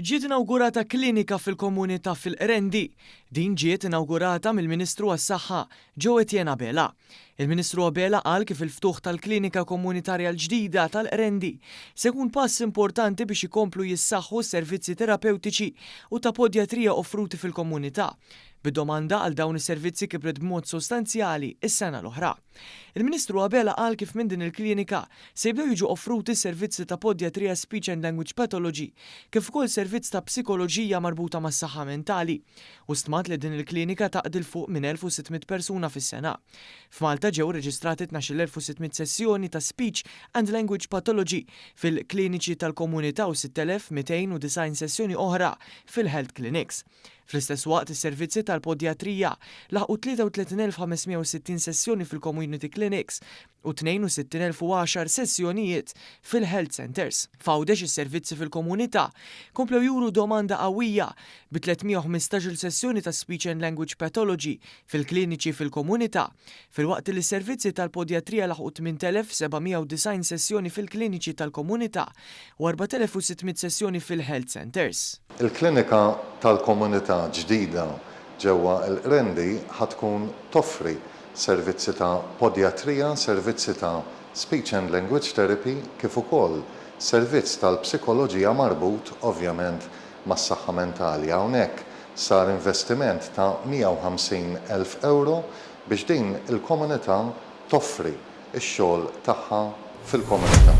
Ġiet inawgurata klinika fil-komunità fil-Qrendi. Din ġiet inawgurata mill-Ministru għas-Saħħa, Joe Etienne Abela. Il-Ministru Abela qal kif il-ftuħ tal-klinika komunitarja l-ġdida tal-Qrendi se jkun pass importanti biex ikomplu jissaħħu s-servizzi terapewtiċi u ta' podjatrija offruti fil-komunità, bid-domanda għal dawn is-servizzi kibret b'mod sostanzjali s-sena l-oħra. Il-Ministru Abela qal kif minn din il-klinika se jibdew jiġu offruti servizzi ta' Podjatrija Speech and Language Pathology kif ukoll servizz ta' Psikoloġija marbuta mas-saħħa mentali u stmat li din il-klinika taqdi 'l fuq minn 1,600 persuna fis-sena. F'Malta ġew irreġistrati 12,600 sessjoni ta' Speech and Language Pathology fil-kliniċi tal-komunità u 6,290 sessjoni oħra fil-health clinics. Fl-istess waqt, is-servizzi tal-podjatrija laħqu 33,560 sessjoni fil-community clinics u 62,010 sessjonijiet fil-health centres. F'Għawdex is-servizzi fil-komunità komplew juru domanda qawwija, bi 315-il sessjoni ta' speech and language pathology fil-kliniċi fil-komunità, filwaqt li s-servizzi tal-podjatrija laħqu 8,790 sessjoni fil-kliniċi tal-komunità. u 4,600 sessjoni fil-health centres. Il-klinika tal-komunità ġdida ġewwa l-Qrendi ħa tkun toffri servizzi ta' podjatrija, servizzi ta' speech and language therapy kif ukoll servizz tal-psikoloġija marbut ovvjament mas-saħħa mentali. Hawnhekk sar investiment ta' 150,000 ewro biex din il-komunità toffri ix-xogħol tagħha fil-komunità.